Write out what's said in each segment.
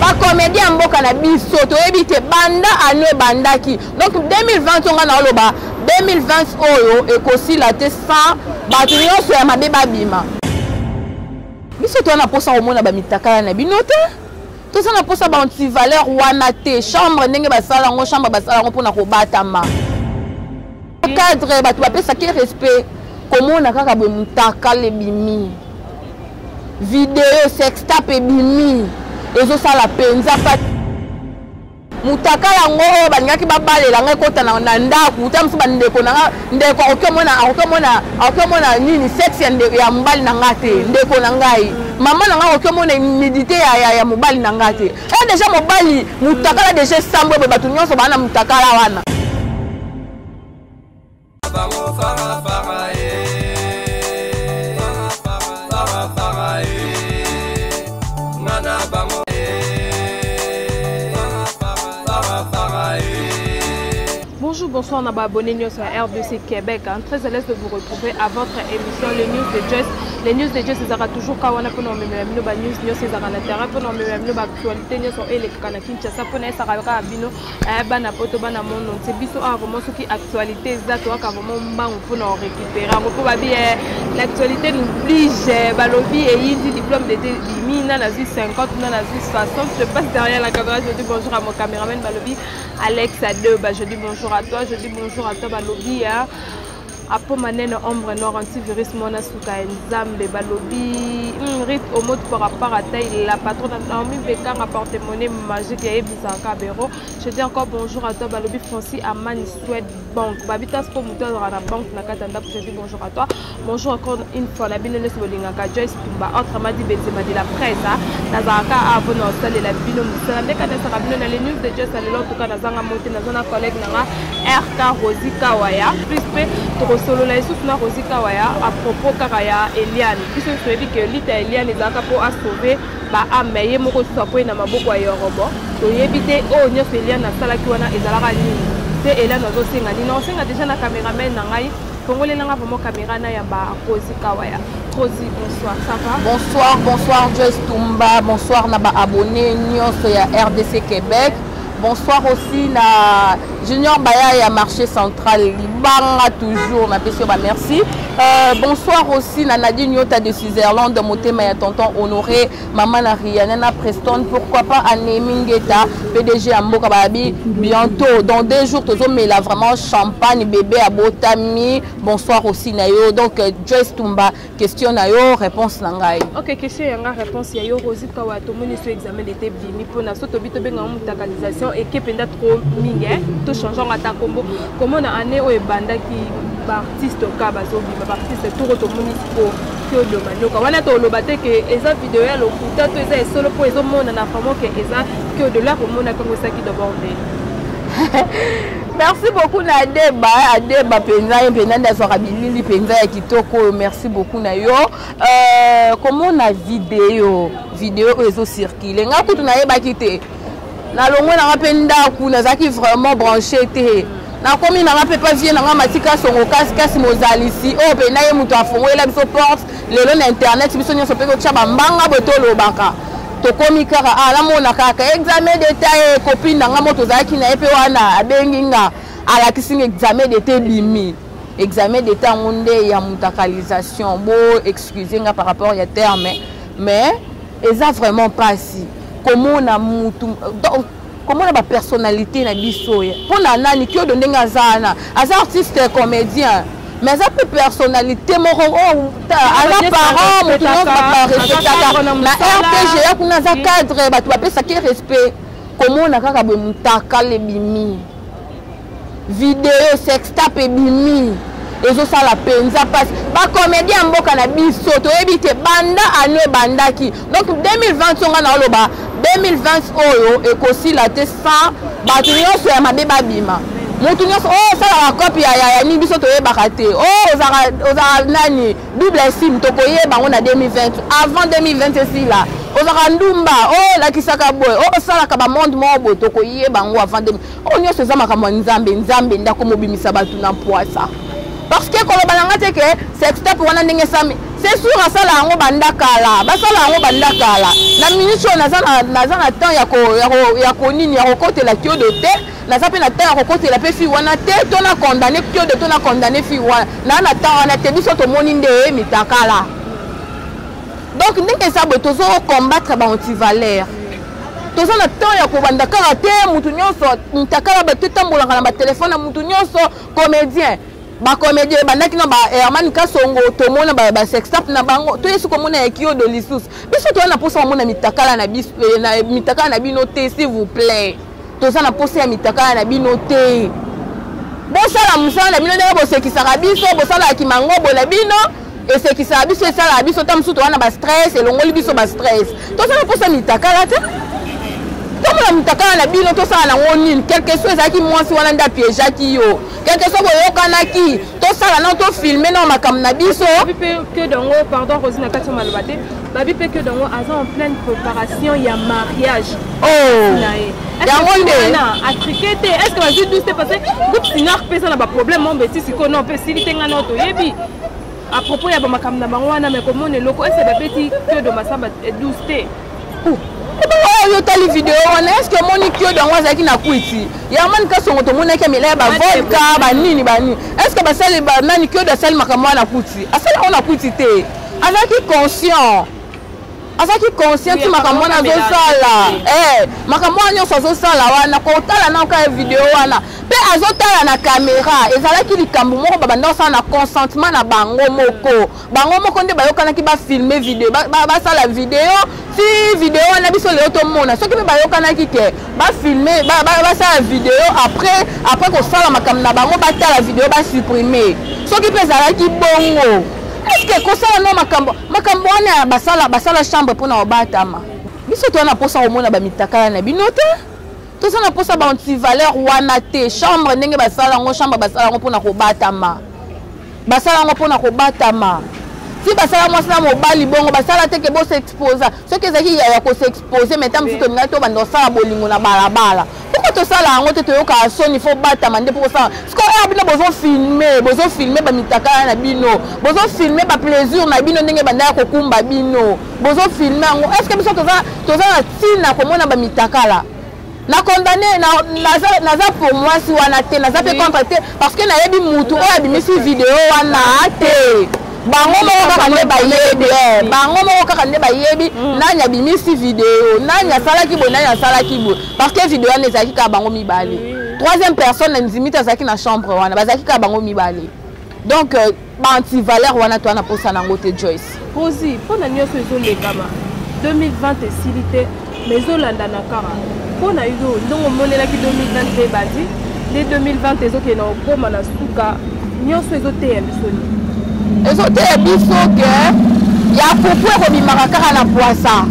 bakomedi ya mboka na biso toyebi te banda ano ebandaki donc 2020 to ngai naoloba 2020 oyo ekosila te sans bato nyonso ya mabe babima biso toza na mposa komona bamitakala na bino te toza na mposa baantivaleur wana te chambre ndenge basala yango chambre basala yango mpona kobatama cadre bato bapesaki respect komona kaka boye motakala ebimi video sextap ebimi ezosala mpenza pasi motakala yango oyo balingaki babalela ngai ekota na ndako ta mosusu bandeko na ngai ndeko akoki omona akoki omona akoki omona nini sexe ya mobali na ngai te ndeko na ngai mama na ngai akoki omona humidité ya mobali na ngai te e eh, deja mobali motakala deja esambwe boye bato nyonso baa na motakala wana bonsoir na baabonné news ya rdc québec hein. très à l'aise de vous retrouver à votre émission les news de jess les news de jess ezalaka toujours ka wana mpona omemela bino banews nyonso ezalaka na terrain mpona omemela bino baactualité nyonso elekaka na kinshasa mpona esaka kaka bino Eh, bana poto bana mono nse biso awa vraimen soki actualité eza toyaka vraimen mbangu mpona korécupere yango mpo babi eh, l'actualité noblige eh, balobi eyindi diplôme dete bimi na nazwi 50 na nazwi 60 je passe derrière la caméra je dis bonjour à mon caméraman balobi alex a deux ba je dis bonjour à toi je dis bonjour à toi balobi hein. apo manene ombre noir antivirus mwana suka ya nzambe balobi mm, rit omot parapara taille la patronne naomi bekanga porte monnaie magique ya ebisaka bero je dis encore bonjour à toi balobi francis amani swede banque babitas mpo moto azalaka na banque na kati ya ndako je dis bonjour à toi bonjour encore une fois na bino nyonso bolingaka joyce ba autrement dit benzema de la presse ah. nazalaka awa mpo na kosalela bino mosala nde kanesaka bino na le news de dieu salelo tuka nazanga mote naza na collègue na nga rk rosi kawaya plus mpe tokosolola lisusu na rosi kawaya a propos kaka ya eliane biso nyonso oyebi ke lite ya eliane ezalaka mpo asauve baame ye moko lisusu akwei na maboko ya yorobo toyebi te oyo nyonso eliane asalaki wana ezalaka nini mpe eliane azosenga nini nakosenga deja na cameraman na ngai Fongolela nga vraiment camera na ya ba Rosie Kawaya. Rosie, bonsoir, ça va? Bonsoir, bonsoir Joyce Tumba, bonsoir na ba abonnés nyonso ya RDC Québec. Bonsoir aussi na Junior Baya ya marché central libanga toujours na pesi ba merci. Euh, bonsoir aussi na Nadine Yota de Switzerland motema ya tonton Honoré Maman na Rihanna na Preston, pourquoi pas Anemi Ngeta, PDG ya mboka babi bientôt dans deux jours tozo mela vraiment champagne bébé à Botami. Bonsoir aussi na yo. Donc euh, Joyce Tumba, question na yo, réponse na ngai. OK, question ya nga réponse ya yo Rosie Kawa to moni sur examen d'été bimi pona so to bito benga mutakalisation et que penda trop mingi hein. To changeons ata combo. Comment na année o ebanda ki ba artiste ka bazo bima ba artiste tout to moni ko Claude Manioka wana toloba te ke eza video ya lokuta to eza esolo mpo ezomonana vraiment ke eza Claude Lola komona kango esaki d'abord nde merci beaucoup na adeba adeba mpenza ye mpenza nde azwaka bilili mpenza ya kitoko oyo merci beaucoup na yo euh, komona video video oyo ezocircule ngai kutu nayebaki te nalongwe nanga mpe ndako nazalaki vraiment branche te nakomi nanga mpe pa vie nanga matika songo kasi kasi mozalisi oyo oh, mpe na ye moto afongolela biso porte lelo na internet biso nyonso mpe kotya bambanga boye tolobaka tokomi kaka ah, namona kaka examen d'etat ye eh, kopine nanga mo tozalaki na ye mpe wana abengi nga alakisi nga examen d'etat ebimi examen d'etat yango nde ya mutakalisation bo excuse nga par rapport ya terme mais eza vraiment mpasi komona mutu donc komona bapersonnalité na biso ye mpo na nani kiodo ndenge aza wana aza artiste comédien mais aza mpe personnalité moko oh, aza parent moto nyonso baparespectaka na rpg ya kuna aza cadre bato bapesaki respect komona kaka boye motakala ebimi video sextap ebimi ezosala mpenza mpasi bakomedi ya mboka na biso toyebi te banda ano ebandaki donc 2020 songa na oloba 2020 oyo ekosila te sans bato nyonso ya mabe babima moto nyonso oyo oh, osalaka kopi ya yaya nini biso toyebaka te oyo oh, ozalaka nani Double sim tokoyeba yango na 2020 avant 2020 esila ozalaka ndumba olakisaka oh, boye osalaka oh, bamonde moko boye tokoyeba yango avant 2000 oyo oh, nyonso eza makambo ya nzambe nzambe nde akomobimisa bato na mpwasa parce que koloba na ngai te ke sextape wana ndenge esami c'est sûr asala yango banda kala basala yango banda kala na minute oyo naza na temps ya konini ya kokotela kiodo te naza mpe na temps ya kokotela mpe fille wana te to na condamne piode to na condamne fille wana naa na temps wana te biso tomoni nde ye mitakala donc ndenge eza boye tozo combattre baantivaleur toza na temps ya kobanda kaka te motu nyonso mitakala bato etambolaka na batelefone ya motu nyonso comédien bacomédien ebandaki na baherman eh, kasongo tomona basextap na bango toyesi komona ya kiodo lisusu biso toya na mposa komona mitakala na eh, eh, bino te s'il vous plaît toza na posa ya mitakala na bino te bosala mosala na bino ndenge bosekisaka biso bosalaka kimangobo na bino esekisaka biso esalaka biso ta mosusu towana bastress elongoli biso bastress tosala mposa mitakala te tomona mitakala na bino tosala nango nini quelque soit ezalaki mwasi wana nde apiejaki yo quelque soit boyokanaki tosala nao tofilme nao makambo na biso babi mpe que dango aza en pleine préparation ya mariage oh. na ye yango nde atrike te est ce que bazwi douce te parce que groupe sinar mpe eza na baproblème mo mbeti sikoyo no mpe esili te ngai nao toyebi à propos ya bamakambo na bango wana me komona eloko ese babeti kiodo masamba 12 te oyo otali video wana est ce que omoni kiodo yango azalaki na kwiti yamani kasongo tomonaki amela ya bavodka banini banini est ce que basali banani kiodo asali makambo wana na kwiti asali yango na kwiti te azalaki conscient azalaki conscient ti makambo wana azosala eh, makambo wana nyonso azosala wana kotala na oka video wana mpe azotala na kamera ezalaki likambo moko babanda kosala na consentement na bango moko bango moko nde bayokanaki bafilme video basala video ti video wana biso lelo tomona soki mpe bayokanaki te ba filmer ba ba ba sala video après après ko sala makambo na bango ba tala video ba supprimer soki pe zalaki bongo est-ce que ko sala no makambo makambo wana ba sala ba sala chambre pona obatama biso to na posa ko mona ba mitakala na bino te toza na posa ba anti valeur wana te chambre ndenge ba sala ngo chambre ba sala ngo pona ko batama ba sala ngo pona ko batama si basala mwasi na mobali bongo basala te ke bosexposa soki ezalaki ya kosexposa pose mais ntango mosusu tolingaki tobanda kosala bolingo na balabala pourkoi tosala yango te toyokaka soni fo batama nde mpo kosala sikoyo oyo bino bozofilme bozofilme bamitakala na bino bozofilme baplaisir na bino ndenge banda ya kokumba bino bozofilme yango estce biso toza na ntina komona bamitakala na condamne naza pour mwasi wana te naza mpe contre te parce que nayebi mutu oyo abimisi video wana te bango moko kaka nde bayebi eh. bango moko kaka nde bayebi mm. nani abimisi video nani asalaki boye nani asalaki boye parce que video wana ezalaki kaka bango mibale troisième personne na ndimi te azalaki na chambre wana bazalaki kaka bango mibale donc euh, ba antivaleur wana toa na mposa na yango te joyce rosi mpo na nyonso ezolekama 2020 esili te ma ezolandana kaka mpo na yo ndongo omonelaki 2020 mpe ebandi nde 2020 ezokende na kokoma na suka nyonso ezoteya biso nini ezoteya biso ke ya fufu ekobimaka kaka na pwasa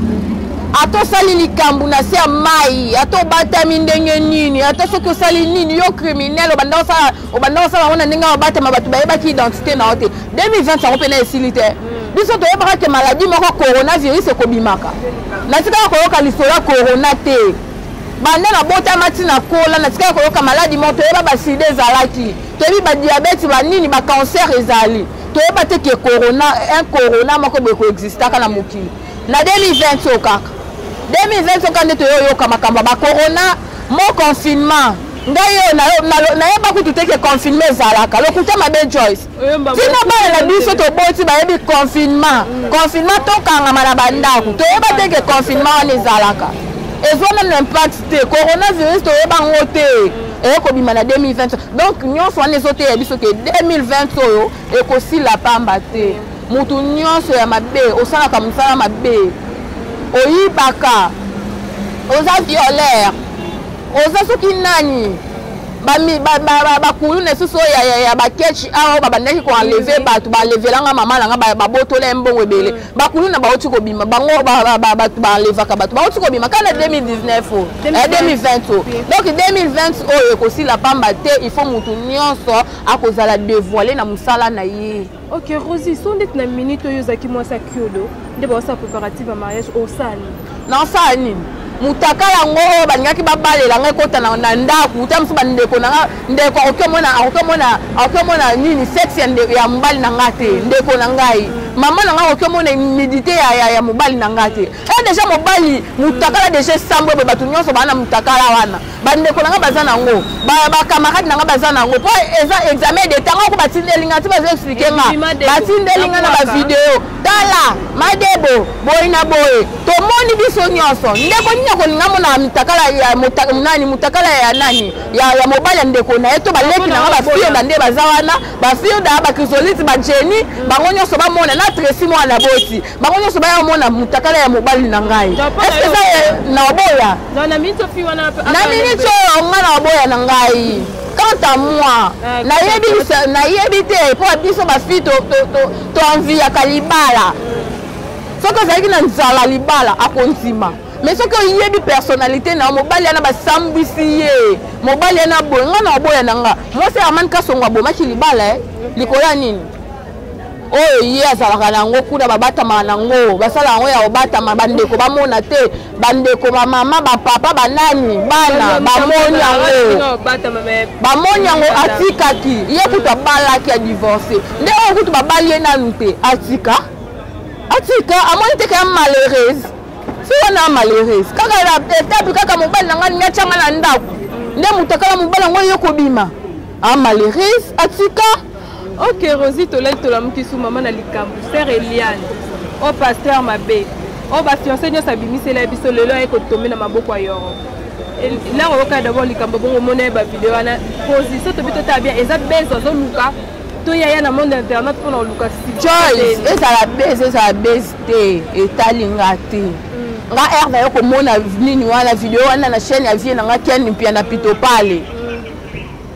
ata osali likambo na se ya mai ata obatami ndenge nini ata soki osali nini yo criminel obanda osala obanda kosala yango na ndenge ya obatema bato bayebaki identité na yo te 2020 yango mpe na esili te hmm. biso toyebaka ke maladi moko coronavirus ekobimaka natikaka koyoka lisolo ya corona te banda nabotama ti nakola natikaka koyoka maladi moko toyeba basida ezalaki toyebi badiabete banini bacancer ezali toyeba te ke corona un corona moko boye koexistaka na mokili na 2020 oyo kaka 2020 oyo kaka nde toyoyoka makambo ya bacorona mo confinement ngai yo nayeba kutu te ke confinement ezalaka lokuta mabe joyce tina bana na biso toboti bayebi confinement mm. confinement tokangama na bandako toyeba te ke confinement wana ezalaka ezwa nanu impact te coronavirus toyeba yango te mm. eye kobima na 2020 donc nyonso wana ezoteya biso ke 2020 oyo ekosila pamba te mm. motu nyonso ya mabe osalaka mosala mabe oyibaka oza violeur oza soki nani bakuluna esusu oyo ya bakechi awa oyo babandaki koenleve mm. bato balevelanga mama na nga babotola ye mbongo ebele mm. bakuluna bauti kobima bango bato baenlevaka bato bauti kobima ka na 2019 o 2020 o donc 2020 oyo ekosila pamba te il faut motu nyonso akozala devoile na mosala na ye ok rosi so ndeti na minute oyo ozalaki mwasi ya kiodo nde baosala préparative ya mariage osala nini nasala nini motaka yango oyo balingaki babalela ngai kota na ndako ta mosusu bandeko na ngai ndeko akoki omona nini sexe ya mobali na ngai te ndeko na ngai mama na ngai akoki omona humidité ya mobali na ngai te e deja mobali motakala deja esambwe boye bato nyonso baa na motakala wana bandeko na ngai baza nango bacamarade na ngai baza nango mpo eza examen de ntango oko batindeli ngai ti bazo explike nga batindeli ngai na bavideo tala madebo boye na boye tomoni biso nyonso ndeko nini akolinga mona mitakala ya nani motakala ya nani ya mobali ya ndeko na ye to baleki na ngai bafioda nde baza wana bafioda bakrisolite bajeni bango nyonso bamona na tresi mwana boti bango nyonso baya omona mutakala ya mobali na ngai eske eza na oboya na miniti oyo nga na oboya na ngai quant à moi ah, nayebi te mpo biso bafi toenviyaka libala soki ozalaki na nzala libala akondima mais soki oyebi personnalité na yo mobali yana basambwisi ye mobali yana boye nga na oboya na nga mwasi armani kasongo abomaki libala eh? likolo ya nini oyo ye azalaka na yango kuna babatamaka na yango basala yango ya kobatama bandeko bamona te bandeko bamama bapapa banani bana bamoni yango bamoni yango atikaki ye kutu abalaki ya divorce nde oyo kutu babali ye nanu te atika atika amoni teke ya malheureuse si wana malheureuse kaka etape kaka mobali na ngai niatyanga na ndako nde moto akala mobali yango ye kobima amalheureuse atika Ok Rosie tolali tolamuki su mama na likambo sœur Eliane o oh, pasteur mabe o oh, bafiance nyonso abimisela ye biso lelo aye kotombe na maboko ya yoro ntango oyoka dabord likambo bongo omona ye bavideo wana position tobi totala bien eza bese azoluka toyaya na monde internet mpona koluka joyce ezala bese ezala bese te etali nga te mm. nga r nayo komona nini wana video wana na chaîne ya vie na nga ken mpia na pitopale mm.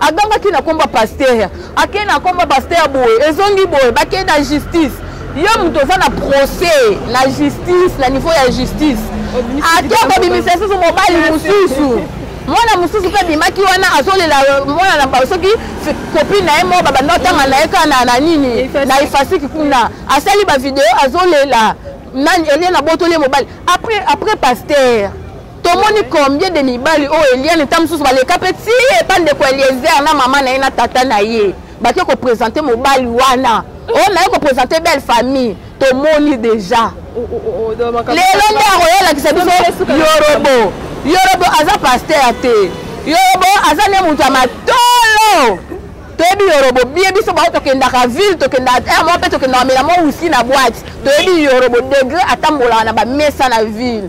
agangaki na komba pasteur akei na komba pasteur boye ezongi boye bakei na justice yo moto oza na procès na justice na niveau ya justice ake kobimisa lisusu mobali mosusu mwana mosusu mpe abimaki wana azolela euh, mwana na bango soki kopine na ye moko babanda otanga na ye kaka na nini na efasiki kuna asali bavideo azolela nani elie na botoli ye mobali après pasteur tomoni combien de mibali oyo eliane ntango mosusu baleka mpe ti epa ndeko eliezer na mama na ye na tata na ye bake kopresente mobali wana oyo naye kopresente belle famille tomoni deja lelo nde akoyolakisa biso yorobo yorobo aza paster te yorobo aza nde moto ya matolo toyebi yorobo bie biso bao tokendaka ville tokendaka eh, mwa mpe tokendaka mela mwa usi na bwati toyebi yorobo degre atambolaka na bamesa na ville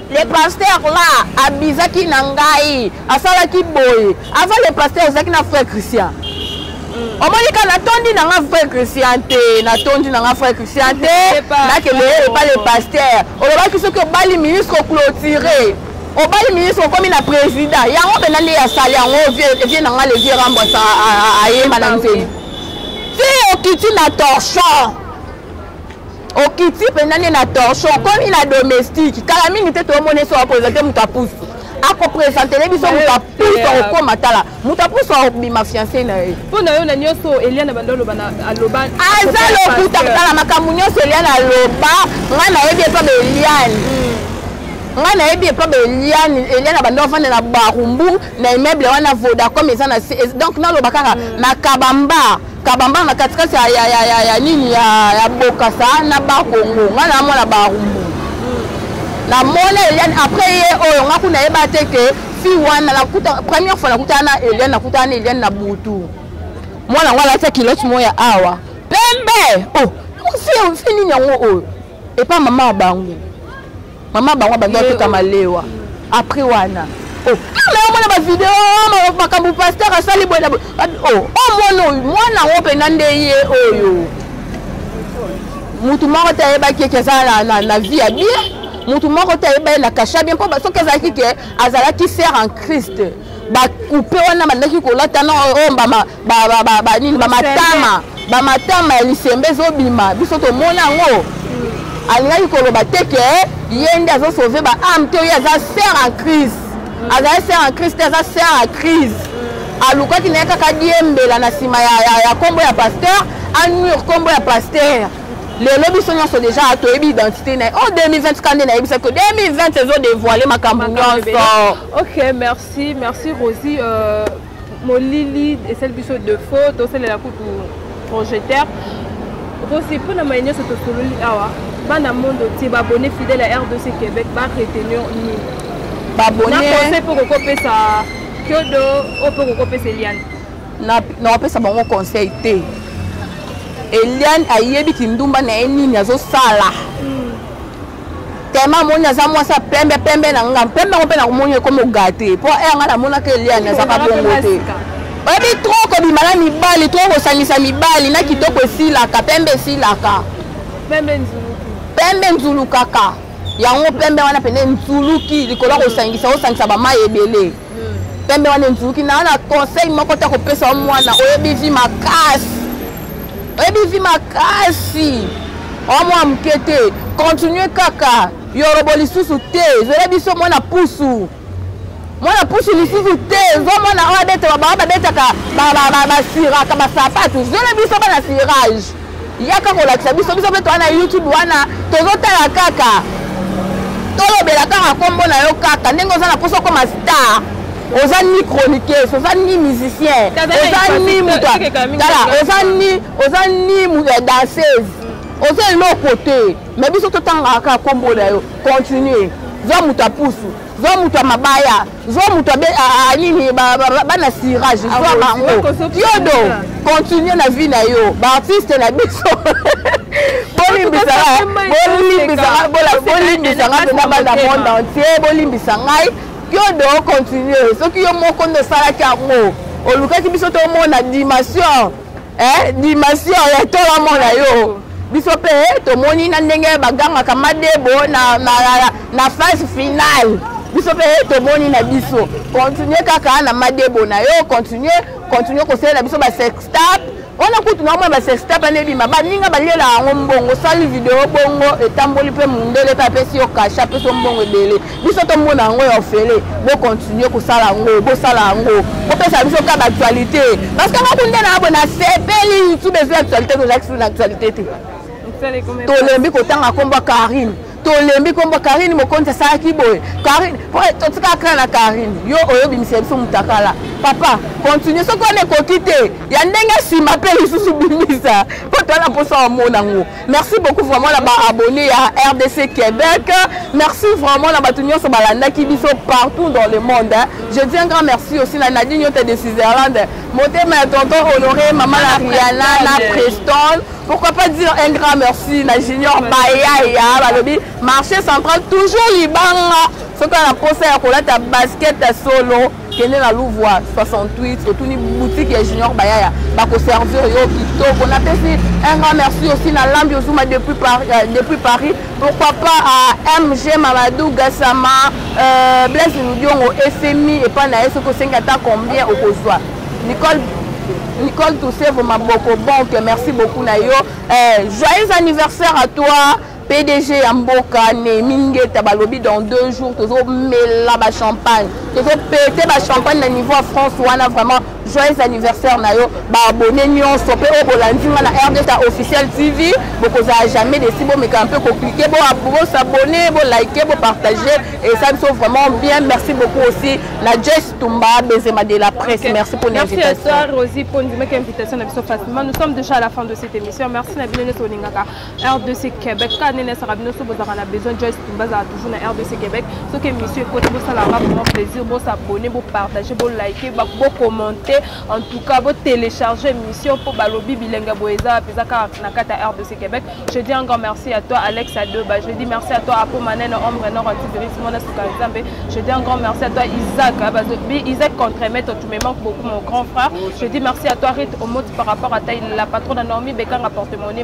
le pasteur la abizaki na ngai asalaki boye avant le pasteur ezalaki na frère christian mm. omoni ka natondi na nga frère christian te natondi na nga frère christian te nakende epa le pasteur olobaki soki obali ministre oclotire obali ministre okomi na président yango mpenza nde asali yango vie na nga le vieux rambo ayemba na nzeli ti okiti na torchon okiti mpenza nde na torchon okomi na domestique kala mingi te toomona eso apresente moto apusu akopresentele biso moto apusu akokoma tala moto apusu akobima fiance na ye mpo na yo na nyonso eliana banda oloba aloba aza lokuta kotala makambo nyonso eliana aloba ngai nayebi epa beliane hmm. ngai nayebi epa beliane eliane abanda ofanda na barumbu na immeuble wana vodacom eza na donc naloba kaka hmm. na kabamba kabambanga na katikati ya, ya, ya, ya, ya nini ya, ya bokasa na bakongo ngai namona barumbu namona eliane après ye oyo ngai kuna yeba te ke fi wana nakuta première fois nakutana na eliane nakutana na eliane na butu mwana yango alati kilote moko ya awa pembe oh, fi nini yango oyo epa mama ya bango mama bango abandi ateka malewa après wana oh, na omona bavideo oh, makambo paster asali boye na boye oh, omona oyo mwana yango mpena nde ye oyo motu moko te ayebaki eke eza na vie ya bien motu moko te ayeba ye na kasha bien mpo soki ezalaki ke azalaki sere en christ bakupe wana bandaki kolata na oyo oh, mbama banini bamatama bamatama ya lisembe ezobima biso tomona yango hmm. alingaki koloba te ke ye nde azosauve ba ame te oyo aza ser en crise hmm. azali ser en crise te aza ser en crise hmm. alukaki na ye kaka diembela na nsima ya nkombo ya pasteur anure nkombo ya pasteur lelo biso nyonso deja toyebi identité na ye o 2024 nde nayebisa ko 2020 ezodevoile makambo nyonso ok merci merci rosi euh... molili esali biso defaut tosalela kutu projecteur okosi mpo na maye nyonso tosololi awa bana mondo tie babone fidèle ya rdc québec baretenir nini babonnaconseil mpo kokopesa kiodo oyo mpo kokopesa eliane nakopesa bango conseil te eliane ayebi kindumba na ye nini azosala tellement amoni aza mwasi ya pembe pembe na nga pembe yango mpe nakomoni ekomi ogate mpo ere nga namonaka eliane azaka bongo te oyebi trop kobima na mibali trop kosangisa mibali na kitoko esilaka pembe esilaka pembe nzulukaka yango pembe wana pene nzuluki likolo ya kosangisa osangisa bamai ebele pembe wana enzuki na na conseil moko te akopesa yo mwana oyebi vi makasi oyebi vi makasi oyo mwa moke te continue kaka yorobo lisusu te zela biso mwana pusu mwana pusu lisusu te zwa mwana oyo abetaka babaa babetaka basiraka basapatu zela biso bana sirage yaka kolakisa biso biso mpe toa na youtube wana tozotala kaka tolobela kaka nkombo na yo kaka ndenge oza na mposa okoma star oza ni chroniqueuse oza ni musicien oza ni moto tala oza ni oza ni eh, danseuse oza eloko te mais biso totangaka nkombo na yo continue zwa moto apusu zwa moto ya mabaya zwa moto nini bana sirage ah zwa bango yodo continue na vie na yo baartiste na biso bolimbisanga mpe na bana monde entier bolimbisa ngai yodo continue soki yo moko nde osalaki yango olukaki biso tomona dimension eh, dimension ya tola mona yo biso mpe eh, tomoni na ndenge bagangaka madebo na, na, na, na phase finale biso mpe eh, tomoni na biso continue kaka na madebo na yo continue continue kosalela biso basextap wana kutu na omona basextap ane ebima baninga balela yango mbongo osali video bongo etamboli mpe mundele mpe apesi yo kasha apesi yo mbongo ebele biso tomona yango ya ofele bocontinue kosala yango bosala yango bopesa biso ka baactualité parce que ngaku nde nabo nasepeli youtube ezwi actualité tozalaki sulu na actualité te tolembi kotanga nkombo ya karine tolembi nkombo karine mokonzi asalaki boye karine po totika kra na karine yo oyo obimisa biso motakala papa continue soki wana ekoki te ya ndenge nsima mpe lisusu bimisa mpo toala mposa omona yango Merci beaucoup vraiment na ba abonnés ya RDC Québec. Merci vraiment na bato nyonso balandaki biso partout dans le monde. Hein. Je dis un grand merci aussi na Nadine Yote de Switzerland. Motema ya tonton Honoré, maman la Rihanna, la Preston. Pourquoi pas dire un grand merci na Junior Bayaya, balobi marché central toujours libanga. Soki na posa ya kolata basket solo kende na louvoi 68 otuni boutique ya junior bayaya bakoservir yo kitoko napesi un grand merci aussi na lambi ozuma depuis, par, euh, depuis paris pourquoi pas à mg mamadou gasama euh, blaise ludiongo efemi epai na ye soki osengi ata combien okozwa nicole nicole tousevo maboko bonke merci beaucoup na yo euh, joyeux anniversaire à toi Pdg ya mboka Nehemi Ngeta balobi dans deux jours tozo mela ba champagne tozo pete ba champagne na niveau ya France wana vraiment joyeux anniversaire na yo baabone nyonso mpe oyo bolandi nga na rdta officiel tv bokozala jamais desi bomekana mpe koklike bosabone bolike bopartage esa biso vraiment bien merci beaucoup aussi na jes tumba benzema de la presse okay. merci pour l'invitation rosi mpo ondimaki invitation na biso facilement nous sommes déjà à la fin de cette émission merci na bino nyonso olingaka rdc québec kaka nene esaka bino so bozalaka na besoin joyce tumba azala toujours na rdc québec soki émission ekoti bosalaka vraiment plaisir bosabonne bopartage bolike bocommente en tout cas botélécharge émission mpo balobi bilenge boye eza mpenza kaka na kati ya rdc québec je dis encore merci à toi alex adoba je dis merci à toi apo manene ombre nord antivirus mona suka nzambe je dis encore merci à toi isaac isaac contremaître tu me manques beaucoup mon grand frère je dis merci à toi rite omoti par rapport à ta la patronne anormi bekanga porte monnaie